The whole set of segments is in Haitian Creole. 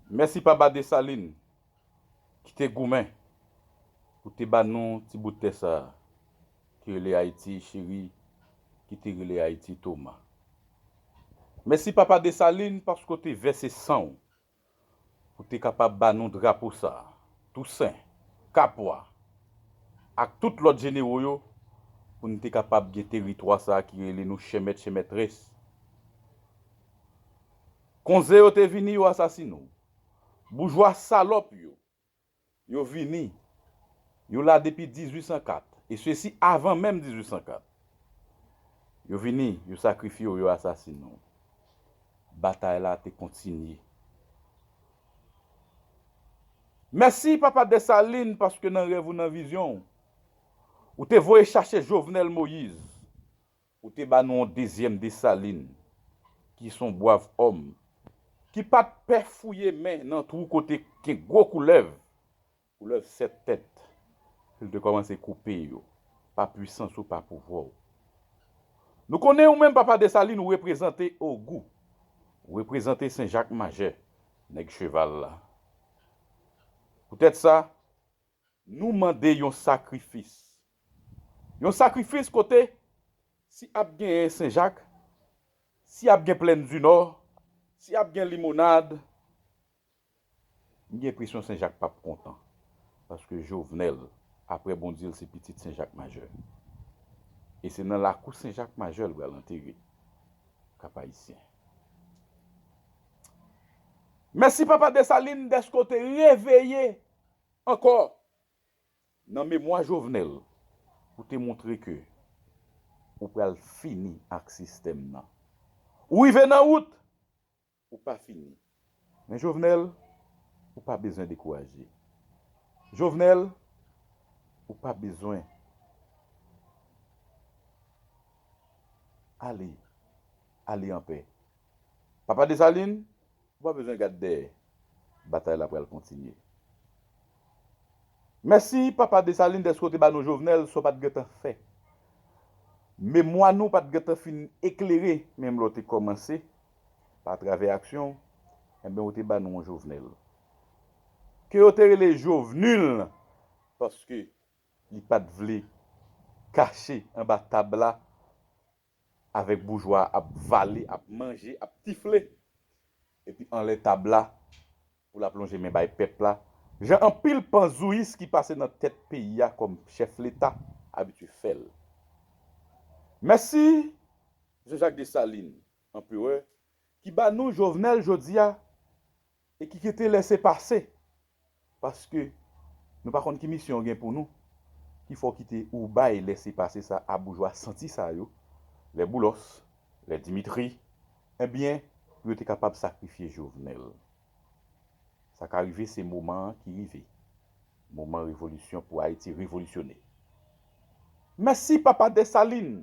Mèsi papa Desalin ki te goumen pou te ba nou ti bout tè sa a ki rele Ayiti cheri ki te rele Ayiti Toma. Mèsi papa Desalin paske w te vèse san w pou w te kapab ba nou drapo sa a, Tousen, Kapwa ak tout lòt jenero yo pou n te kapab gen teritwa sa a ki rele nou chèmèt chèmètrès. Konze yo te vini yo asasine w. Boujwa salòp yo, yo vini, yo la depi 1804, e sesi avan menm 1804. Yo vini, yo sakrifye w, yo asasine w. Batay la te kontinye. Mèsi papa Dessalines paske nan rèv ou nan vizyon w, ou te voye chache Jovenel Moïse Ou te ba nou yon dezyèm Desalin ki son bwav òm, ki pa t pè fouye men nan twou kote gen gwo koulèv, koulèv sèt tèt, pou l te kòmanse koupe yo, pa pwisans ou, pa pouvwa w. Nou konnen ou menm Papa Desalin ou reprezante Ogou, ou reprezante Sen Jak Majè, Nèg Cheval la. Poutèt sa, nou mande yon sakrifis Yon sakrifis kote si ap genyen senjak, si ap gen plèn di nò, si ap gen limonad, m gen enpresyon senjak pap kontan paske Jovenel aprè bon di l se pitit senjak majè e se nan lakou senjak majè l pral antere Kapayisyen. Mèsi papa Desalin dèske w te reveye ankò Nan memwa Jovenel pou te montre ke ou pral fini ak sistèm nan. Ou rive nan wout, ou pa fini. Men Jovenel, ou pa bezwen dekouraje. Jovenel, ou pa bezwen ale, ale anpè. Papa Dessalines, Ou pa bezwen gad dèyè. Batay la pral kontinye. Mèsi papa Desalin dèske w te ba nou Jovenel sa w pa t gentan fè. Memwa nou pa t gentan fin eklere menm lè w te kòmanse pa travè aksyon w enben w te ba nou yon Jovenel ke yo te rele Jovenul paske li pa t vle kache anba tab la avèk boujwa ap vale ap manje ap tifle epi anlè tab la pou lap lonje men bay pèp la jan anpil panzouyis ki pase nan tèt peyi a kòm chèf leta abitye fèl mèsi Jean Jacques Dessalines anperè ki ba nou Jovenel jodi a E ki kite lese pase. Paske Nou pa konn ki misyon yo gen pou nou ki fè w kite ou bay lese pase sa a boujwa santi sa yo lè Boulos, lè Dimitri ebyen pou yo te kapab sakrifye Jovenel. Sa ka rive se moman an ki rive. Moman revolisyon pou Ayiti revolisyone. Mèsi papa Dessalines!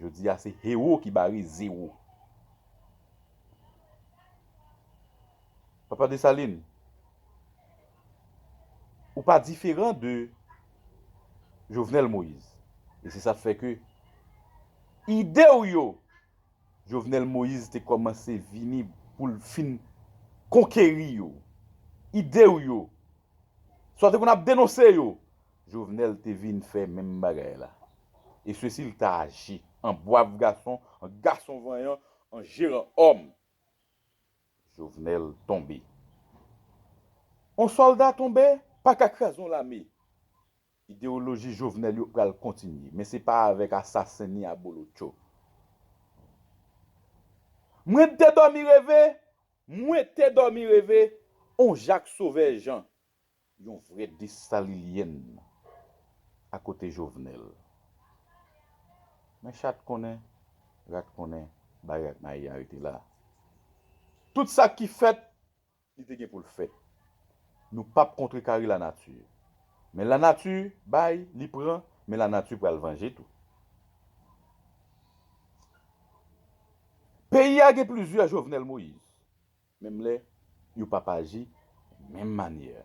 Jodi a se Hero ki bare zero. Papa Dessalines, ou pa diferan de Jovenel Moïse. E se sa fè ke ide ou yo Jovenel Moïse te kòmanse vini pou l fin konkeri yo. Ide ou yo, sa w te konn ap denonse yo. Jovenel te vin fè menm bagay la. E se si l ta aji an bwav gason, an gason vanyan, an jeran òm. Jovenel tonbe. On sòlda tonbe pa ka kraze on lame. Idewoloji Jovenel yo pral kontinye, men se pa avèk asasen ni abolotcho. Mwen te dòmi reve, mwen te dòmi reve, on Jak Sovè Jan. Yon vrè Dessalilienne a kote Jovenel. Men chat konnen, rat konnen bagay ak mayi a rete la. Tout sa ki fèt, li te gen pou l fèt. Nou pap kontrekare lanati. Men lanati bay, li pran, men lanati pral vanje tou. Peyi a gen plizyè Jovenel Moïse. Menm lè yo p ap aji menm manyè.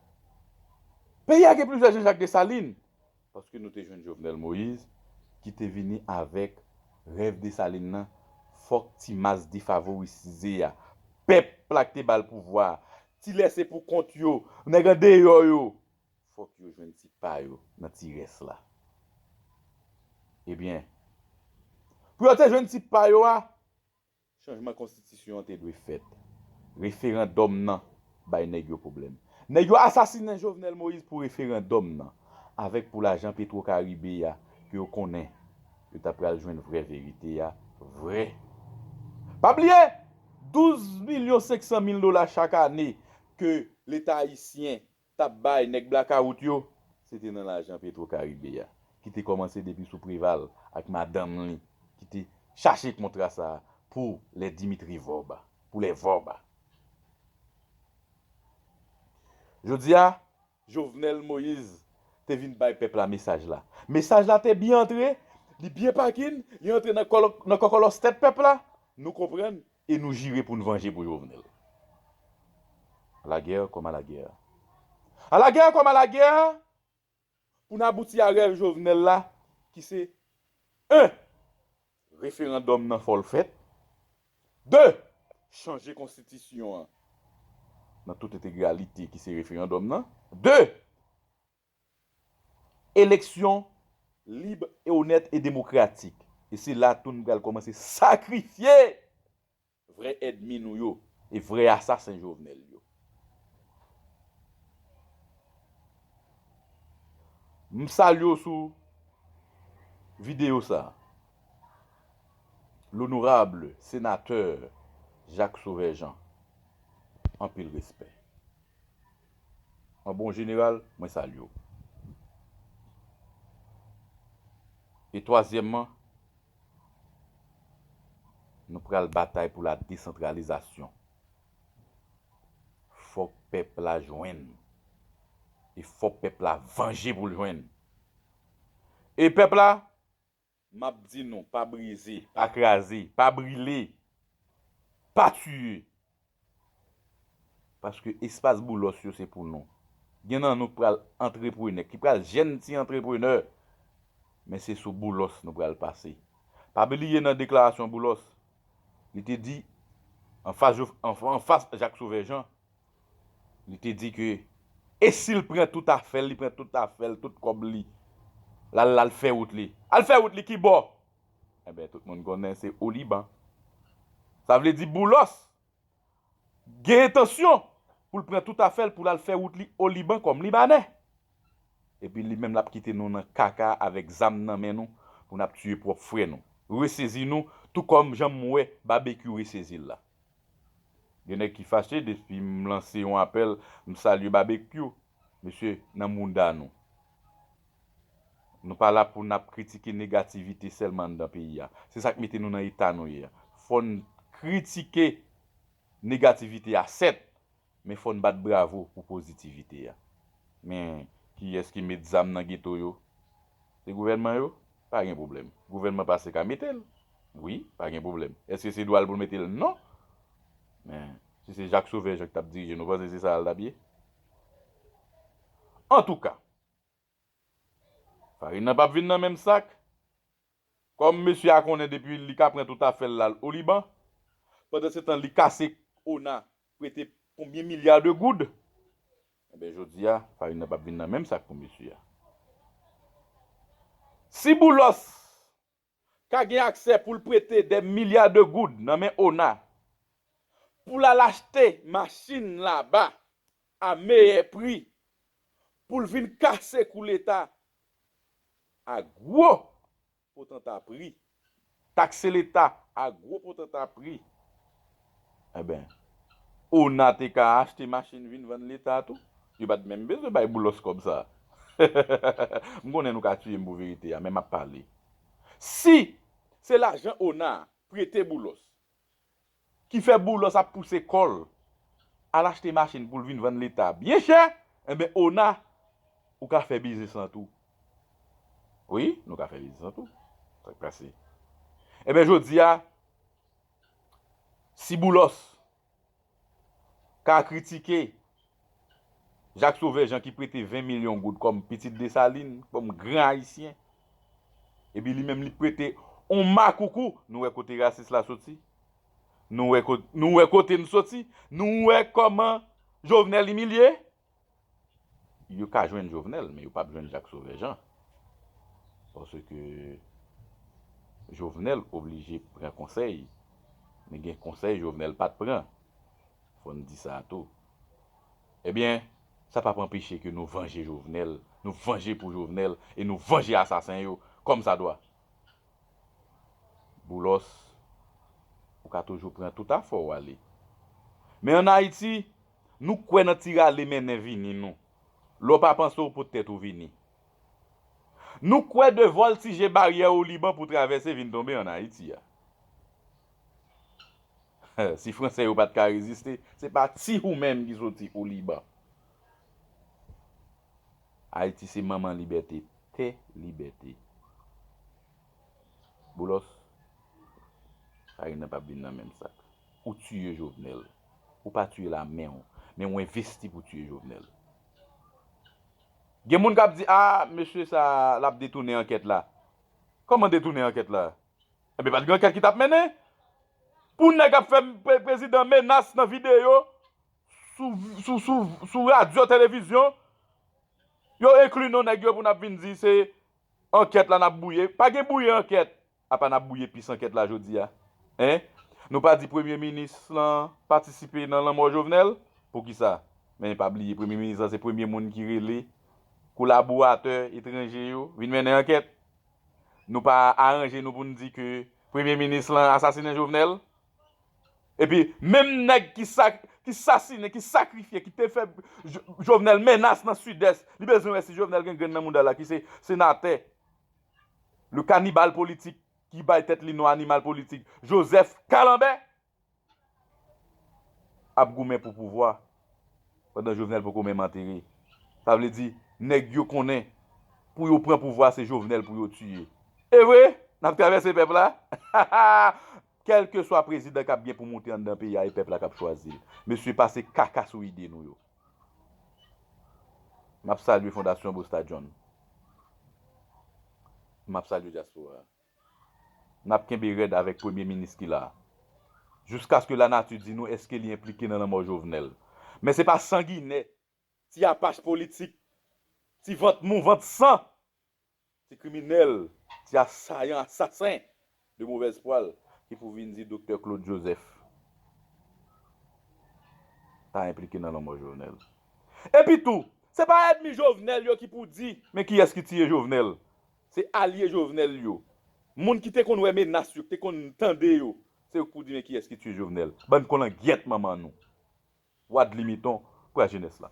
Peyi a gen plizyè Jean Jacques Dessalines, paske nou te jwenn Jovenel Moïse ki te vini avèk rèv Dessalines lan fòk ti mas defavorisize a, pèp la k te ba l pouvwa a, ti lèse pou kont yo, nèg andeyò yo, fòk yo jwenn ti pa yo nan ti rès la. Ebyen, pou yo te jwenn ti pa yo a, Chanjman konstitisyon an te dwe fèt. Referandòm nan bay nèg yo pwoblèm. Nèg yo asasinen Jovenel Moïse pou referandòm nan avèk pou lajan petro karibe a ke yo konnen yo ta pral jwenn vrè verite a vrè. Pa bliye 12 milyon 500 mil dola chak ane ke leta ayisyen tap bay nèg blakawout yo, se te nan lajan Petro Caribe a, ki te kòmanse depi sou Preval ak madanm li, ki te chache kontra sa a pou lè Dimitri Vorb a, pou lè Vorb a. Jodi a, Jovenel Moise te vin bay pèp la mesaj la. Mesaj la te byen antre, li byen pakin, li antre nan kòkòlòs tèt pèp la, nou konprann E nou jire pou n vanje pou Jovenel. A la guerre comme à la guerre A la guerre comme à la guerre Pou n abouti a rèv Jovenel la ki se 1. Referandòm nan fò l fèt 2. Chanje konstitisyon an nan tout entegralite ki se referandòm nan 2. Eleksyon lib e onèt e demokratik. E se la tou n pral kòmanse sakrifye vrè èdmi nou yo e vrè asasen Jovenel yo. M salye w sou videyo sa a, Lonorable Senatè Jacques Sauveur Jean. Anpil respè. An bon jeneral, mwen salye w. E twazyèmman, nou pral batay pou la desantralizasyon. Fòk pèp la jwenn. E fòk pèp la vanje pou l jwenn. E pèp la, M ap di nou, pa brize, pa kraze, pa brile, pa tiye. Paske espas Boulos yo se pou nou. Gen nan nou ki pral antreprenè, ki pral jèn ti antreprenè, men se sou Boulos nou pral pase. Pa bliye nan deklarasyon Boulos, li te di, anfas Jacques Sauveur Jean, Li te di ke e si l pran tout afè l, li pran tout afè l, tout kòb li, l al la l fè wout li. Al fè wout li ki bò? Enben, tout moun konnen se o Liban. Sa vle di Boulos gen entansyon pou l pran tout afè l pou l al fè wout li o Liban kòm Libanè. Epi li menm l ap kite nou nan kaka avèk zam nan men nou pou n ap tiye pwòp frè nou. Resezi nou tou kòm jan m wè Babekyou resezi l la. Gen nèg ki fache depi m lanse yon apèl m salye babekyou mesye nan mouda nou nou pa la pou nap kritike negativite sèlman anndan peyi a se sak mete nou nan eta nou ye a fòn kritike negativite a 7 Men fòn bat bravo pou pozitivite a. Men kiyès ki met zam nan geto yo? Se gouvènman yo? Pa gen pwoblèm. Gouvènman pase ka mete l? Wi, pa gen pwoblèm. Èske se dwa l pou l mete l? Non! Men, si se Jacques Sauveur Jean ki t ap dirije nou panse se sa l t ap ye? Antouka! Farin nan pap vin nan menm sak. Kòm mesye a konnen depi li ka pran tout afèl la al oliban. Pandan se tan li kase k ona prete konbyen milya de goud. Enben jodi a farin nan pap vin nan menm sak pou mesye a. Si boulos ka gen aksè pou l prete dè milya de goud nan men ona pou l al achte machin laba a meyè pri pou l vin kase kou leta a gwo potanta pri, takse leta a gwo potanta pri Enben, ona te ka achte machin vin vann leta tou. Yo pa t menm bezwen bay Boulos kòb sa a. M konnen nou ka tiye m pou verite a, men m ap pale. Si se lajan ona prete Boulos ki fè Boulos ap pouse kò l al achte machin pou l vin vann leta byen chè, enben ona ou ka fè biznis lan tou. Wi, nou ka fè biznis lan tou. Sa k pase? Enben jodi a, Si Boulos ka kritike Jacques Sauveur Jean ki prete 20 milyon goud kòm pitit Desalin, kòm gran Ayisyen, epi li menm li prete yon makoukou, nou wè kote rasis la soti? Nou wè kote nou soti? Nou wè kòman Jovenel imilye? Yo ka jwenn Jovenel men yo pap jwenn Jacques Sauveur Jean paske Jovenel oblije pran konsèy men gen konsèy Jovenel pat pran fò n di sa tou ebyen sa pap anpeche ke nou vanje Jovenel nou vanje pou Jovenel e nou vanje asasen yo kòm sa dwa Boulos ou ka toujou pran tout afè w ale men an Ayiti Nou kwè nan ti rale mennen vini nou lè w pa panse w pou tèt ou vini. Nou kwè de vòltije baryè Oliban pou travèse vin tonbe an Ayiti a. Si Franse yo pa t ka reziste, se pa ti ou menm ki soti Oliban. Ayiti se manman libète, tè libète. Boulos, Farine nan pa p vin nan menm sak. Ou tiye Jovenel. Ou pa tuye la menw. Men ou envesti pou tuye Jovenel. Gen moun kap di ah mesye sa lap detounen anket la. Koman detounen anket la? Ebyen pat gen anket ki tap mennen. Pou neg ap fe prezidan menas nan video sou radio televizyon. Yo enkli non neg yo pou nap vin di se anket la nap bouye. Pa gen bouye anket. Apa nap bouye pis ankèt la jodia hein nou pa di premye minis lan patisipe nan lanmò jovenel poukisa men pa bliye premye minis lan se premye moun ki rele kolaboratè etranje yo vin mennen ankèt nou pa aranje nou poun di ke premye minis lan asasinen jovenel epi menm nèg ki sasinen ki sakrifye ki te fè jovenel menas nan sidès li bezwen wè si jovenel gen grenn nan mouda la ki se senatè. Le kanibal politik ki bay tèt li non animal politik Joseph Kalanbè ap goumen pou pouvwa pandan Jovenel poko menm antere. Sa vle di nèg yo konnen pou yo pran pouvwa se Jovenel pou yo tiye. Evre, n ap travèse pèp la. Kèlkeswa prezidan k ap gen pou moute anndan peyi a e pèp la k ap chwazi l. Mesye pase kaka sou ide nou yo. M ap salye Fondasyon Busta John. M ap salye dyaspora a. N ap kenbe rèd avèk premye minis ki la a. Jiskaske lanati di nou èske li enplike nan lanmò Jovenel. Men se pa sanginè, ti apach politik, ti vant mou, vant san! Ti kriminèl, ti asayan, asasen de movèz pwal ki pou vin di Doktè Claude Joseph ta enplike nan lanmò Jovenel. Epi tou, se pa èdmi Jovenel yo ki pou di men kiyès ki tiye Jovenel. Se alye Jovenel yo. Moun ki te konn wè menas yo, ki te konn tande yo, se yo ki pou di men kiyès ki tiye Jovenel. Bann kolangyèt manman nou. Wadli miton, pwa jenès la.